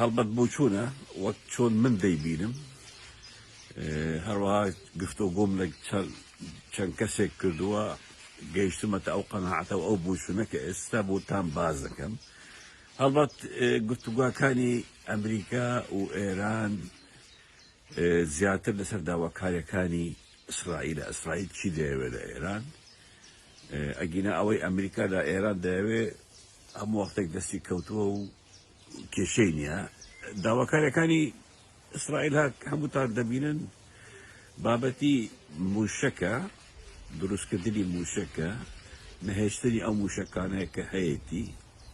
هەڵبەت بۆچوونە وەک چۆن من دەیبینم، هەروەها گفتۆگۆم لە چەند کەسێک کردووە گەیشتمەتە ئەو قەناعەتە و ئەو بۆچوونە کە ئێستا بۆتان باس دەکەم. هەڵبەت گفتوگاکانی ئەمریکا و ئێران زیاتر لەسەر داواکاریەکانی ئیسرائیلە، ئیسرائیل چی دەیەوێت لە ئێران، ئەگینا ئەوەی ئەمریکا لە ئێران دەیەوێت، هەموو وەختێک دەستی کەوتووە و کێشەی نییە داواکاریەکانی ئیسرائیل هەک هەمووتان دەبینن بابەتی موشەکە دروستکردنی موشەکە نەهێشتنی ئەو موشەکانەیە کە هەیەی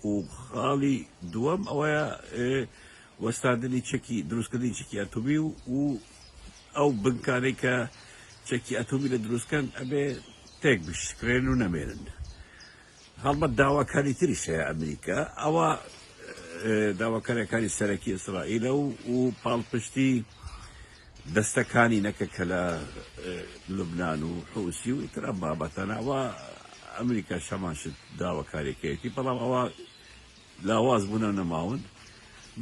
و خاڵی دووەم ئەوەیە وەستاندنی چەکی دروستکردنی چکی ئەتوبی و و ئەو بنکانەی کە چەکی ئەتوبی لە دروستکەن ئەبێ تێک بشکرێن و نەمێنن هەڵبەت داواکاری تریش هەیە ئەمریکا ئەوە داواکاریەکانی سەرەکی ئیسرائیلە و و پاڵپشتی دەستەکانی نەکە کە لە لوبناان و حوسی و ئیترا بابەتەنەوە ئەمریکا شەماشت داواکاریەکەیەتی بەڵام ئەوە لاواز بوونە نەماون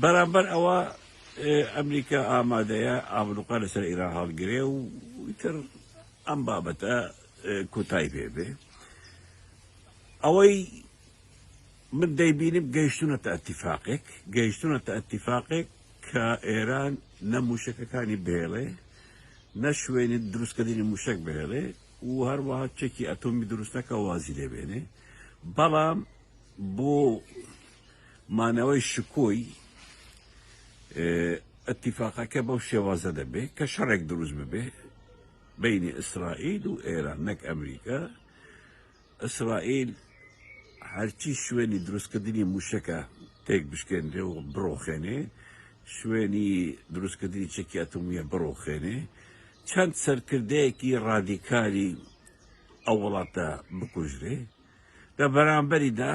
بەرامبەر ئەوە ئەمریکا ئامادەیە ئابلوقا لەسەر ئێرا هەڵگرێ و تر ئەم بابەتە کۆتای پێ بێ ئەوەی من دەیبینم گەیشتونەتە ئەتیفاقێک گەیشتونەتە ئەتیفاقێک کە ئێران نە موشەکەکانی بهێڵێ نە شوێنی دروستکردنی موشک بهێڵێ و هەروەها چەکی ئەتۆمی دروستەکە وازی لێبێنێ بەڵام بۆ مانەوەی شکۆی ئەتیفاقەکە بەو شێوازە دەبێ کە شەڕێک دروست ببێ بەینی ئیسرائیل و ئێران نەک ئەمریکا ئیسرائیل هەرچی شوێنی دروستکردنی موشەکە تێک بشکێنرێ و بڕۆخێنێ شوێنی دروستکردنی چەکی ئەتومیە بڕۆخێنێ چەند سەرکردەیەکی ڕادیکاری ئەو وڵاتە بکوژرێ لە بەرامبەریدا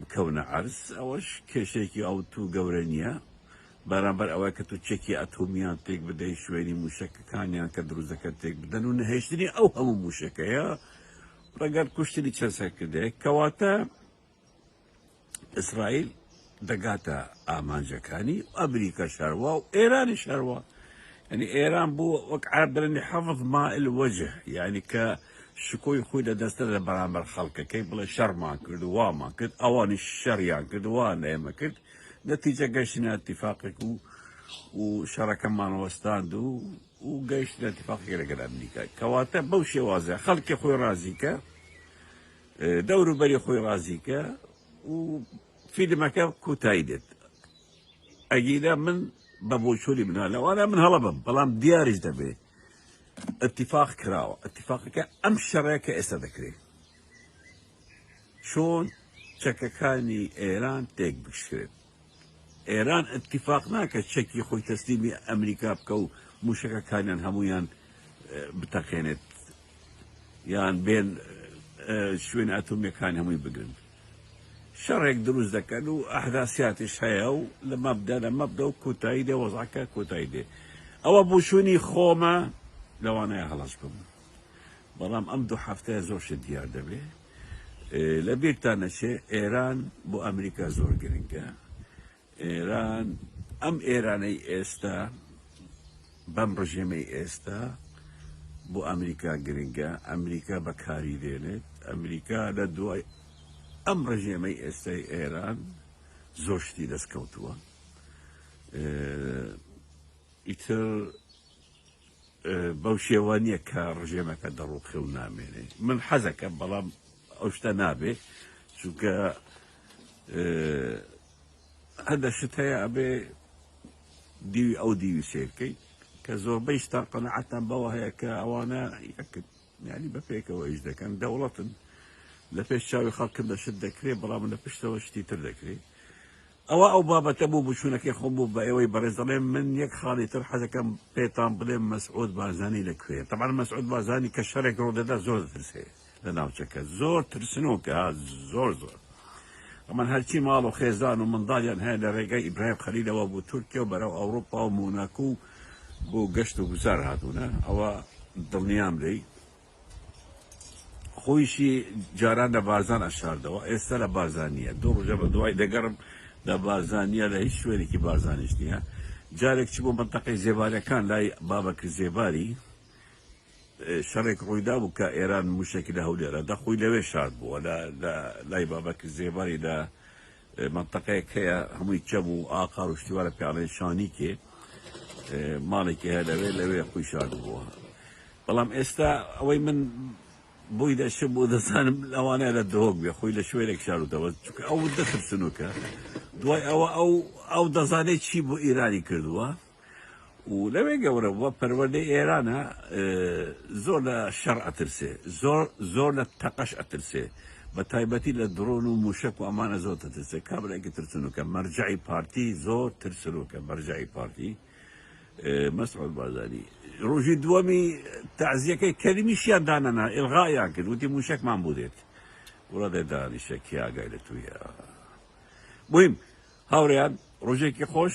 بکەونە عەرز ئەوەش کێشەیەکی ئەوتو گەورە نیە بەرامبەر ئەوەی کە تو چەکی ئەتۆمیان تێک بدەی شوێنی موشەکەکانیان کە دروست دەکەن تێک بدەن و نەهێشتنی ئەو هەموو موشەکەیە ڕەگەر کوشتنی چەند سەرکردەیەک کەواتە ئیسرائیل دەگاتە ئامانجەکانی و ئەمریکا شەروا و ئێرانی شەروا یعنی ئێران بوو وەک عەرەب دەڵێن حەفظ مائل وەجه یعنی کە شکۆی خۆی لە دەستە لە بەرامبەر خەڵکەکەی بڵێ شەڕمان کرد و وامان کرد ئەوانیش شەڕیان کرد و وایان لە ئێمە کرد نەتیجە گەشتنە ئەتیفاقێک و و شەڕەکەمان وەستاند و و گەشت لە تفاقی لەگەر ئەمریکا کەواتە بەو شێوازە خەڵکی خۆی ڕازیکە دەوروبەری خۆی ڕازیکە و فیلمەکە کوتایی دێت ئەگیرە من بە بۆچووری منە لەوانە من هەڵە بم بەڵام دیاریش دەبێت اتفاق کراوە اتفاقەکە ئەم شەڕەیە کە ئێستا دەکرێت چۆن چەکەکانی ئێران تێک بشکرێت ئێران اتفاق ناکە چەکی خۆی تەسلیمی ئەمریکا بکە و موشەکەکانیان هەمویان بتەقێنێت یان بێن شوێن ئەتۆمیەکان هەمووی بگرن شەڕێک دروست دەکەن و ئەحداسیاتیش هەیە و لە مەبدا لە مەبدا و کۆتایی دێ وەزعەکە کۆتایی دێ ئەوە بووشوونی خۆمە لەوانەیە هەڵەش بم بەڵام ئەم دوو حەفتەیە زۆر شت دیار دەبێ لە بیرتان نەچێ ئێران بۆ ئەمریکا زۆر گرنگە ئێران ئەم ئێرانەی ئێستا بەم ڕژێمەی ئێستا بۆ ئەمریکا گرنگە ئەمریکا بەکاری دێنێت ئەمریکا لە دوای ئەم ڕژێمەی ئێستای ئێران زۆر شتی دەستکەوتووە ئیتر بەو شێوە نییە کە ڕژێمەکە دەڕوخێ و نامێنێ من حەزەکە بەڵام ئەو شتە نابێ چونکە هەندێک شت هەیە ئەبێ دیوی ئەو دیوی سیر کەی کە زۆربەی ستار قەنەعەتان بەوە هەیە کە ئەوانە یەکن یعنی بە پێکەوە ئیش دەکەن دەوڵەتن لە پێش چاوی خەڵکن دە شت دەکرێ بەڵام لە پشتەوە شتی تر دەکرێ ئەوە ئەو بابەتە بوو بچوونەکەی خۆم بوو بە ئێوەی بەڕێز دەڵێم من یەک خاڵی تر حەزەکەم پێتان بڵێم مەسعود بازانی لە کوێ تەمان مەسعود بازانی کە شەرێک ڕۆدەدا زۆر دەترسێ لە ناوچەکە زۆر ترسنۆکە زۆر زۆر ئەمان هەرچی ماڵ و خێزان و منداڵیان هەیە لە ڕێگەی ئیبراهیم خەلیلەوە بۆ تورکیا و بەرەو ئەوروپا و موناکو و بۆ گەشت و گوزار هاتوونە ئەوە دڵنیام لێی خۆیشی جاران لە بارزان ئەشاردەوە ئێستا لە بارزان نییە دوو ڕژە بە دوای دەگەڕم لە بارزان نییە لە هیچ شوێنێکی بارزانیش نییە جارێک چ بۆ منتەقەی زێبارەکان لای بابەکر زێباری شەڕێک ڕوویدا بوو کە ئێران مووشەکی لە هەولێرە دا خۆی لەوێ شارد بووە لە لە لای بابەکر زێباری لە مەنتەقەیەک هەیە هەمووی چەم و ئاقار و شتیوارە پیاڵێن شانیکێ ماڵێکی هەیە لەوێ لەوێ خۆی شارد بووە بەڵام ئێستا ئەوەی من بۆی دەشم بۆ دەزانم لەوانەیە لە دهۆک بێ خۆی لە شوێنێک شارودەوە چونکە ئەو دەترسنوکە دوای ئەوە ئەو ئەو دەزانێت چی بۆ ئیرانی کردووە و لەوێ گەورە بووە پەروەردەی ئێرانە زۆر لە شەڕ ئەترسێ زۆر زۆر لە تەقەش ئەترسێ بە تایبەتی لە دڕۆن و موشک و ئەمانە زۆر تەترسێ کابراێکی ترسنوکە مەرجعی پارتی زۆر ترسروکە مەرجعی پارتی مەسعود بازاری ڕۆژی دووەمی تازیەکەی کەریمیشیان دانەنا ئلغایان کرد وتی موشکمان بودێت وڵە دێ دانیشە کیاگای لە تویە بیم هاوریان ڕۆژێکی خۆش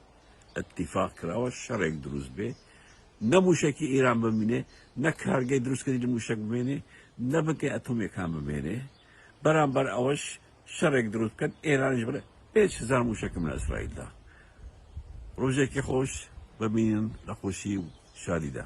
اتفاق کراوە شەڕێک دروست بێ نە موشەکی ئیران بمینێ نە کارگەی دروستکردی لە موشەک بمێنێ نە بنکەی ئەتۆمیەکان بمێنێ بەرامبەر ئەوەش شەڕێک دروست بکەن ئێرانش بڵێ پێنج هزار موشەکم لە ئیسرائیلدا ڕۆژێکی خۆش ببینن لە خۆشی و شادیدا